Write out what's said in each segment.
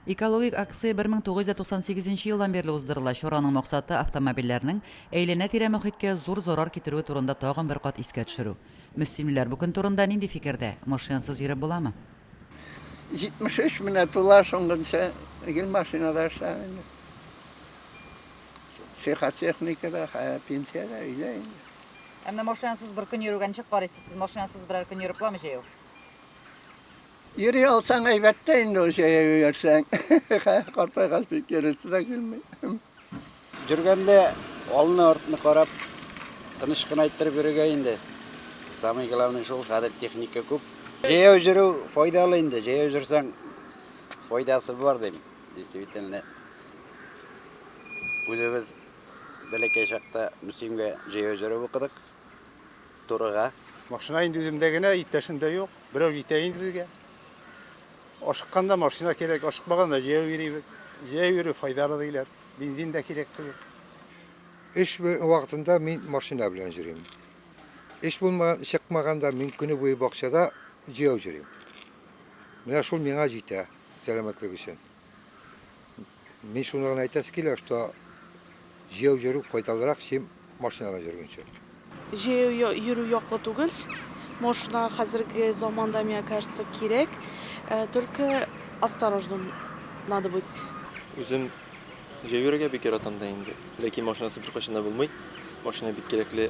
Экологик акция 1998 нче елдан бирле уздырыла. Чараның максаты, автомобильләрнең әйләнә-тирә мохиткә зур зарар китерүе турында тагын бер кат искә төшерү. Мөслимлеләр бу көн турында нинди фикердә? Машинасыз йөреп буламы? 73 менә тула, соңгынча гел машинада эшләгән инде. Психотехника да, хәя пенсиядә, өйдә инде. Ә менә машинасыз бер көн йөрүгә ничек карыйсыз? Сез машинасыз берәр көн йөреп буламы җәяү? Йөри алсаң әйбәт тә инде ул җәяү йөрсәң. Картайгач бик йөресе дә килми. Йөргәндә алны артны карап тыныч кына иттереп йөрергә инде. Самый главный шул, хәзер техника күп. Җәяү йөрү файдалы инде, җәяү йөрсәң файдасы бар дим. Действительно. Үзебез бәләкәй чакта Мөслимгә җәяү йөреп укыдык. турыга. Машина инде үземдә генә, иптәшем дә юк. Берәү җитә инде безгә. Ашыкканда машина кирәк, ашыкмаганда җәяү йөрибез. Җәяү йөрү файдалы диләр. Бензин дә кирәк түгел. Эш вакытында мин машина белән йөрим. Эш булмаган, чыкмаганда мин көне буе бакчада җәяү йөрим. Менә шул миңа җитә сәламәтлек өчен. Мин шуны гына әйтәсе килә, что җәяү йөрү файдалырак, чем машинада йөргәнче. Җәяү йөрү яклы түгел. Машина хәзерге заманда, миңа кажется, кирәк. Только осторожным надо быть. Үзем җәяү йөрергә бик яратам да инде. Ләкин машинасыз беркайчан да булмый. Машина бик кирәкле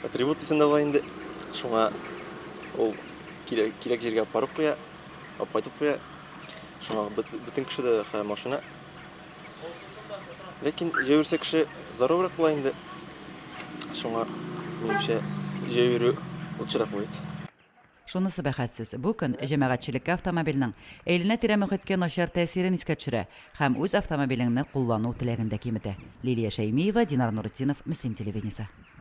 атрибут исәбендә була инде. Шуңа ул кирәк җиргә апарып куя. Алып кайтып куя. Шуңа бөтен кеше дә хә машина. Ләкин җәйүрсә кеше заруррак була инде. Шуңа минемчә җәйүрү лучшерак будет. Шунысы бәхәссез, бу көн җәмәгатьчелеккә автомобильнең әйләнә-тирә мөхиткә начар тәэсирен искә төшерә һәм үз автомобилеңне куллану теләген дә киметә. Лилия Шәймиева, Динар Нуретдинов, Мөслим телевидениесе.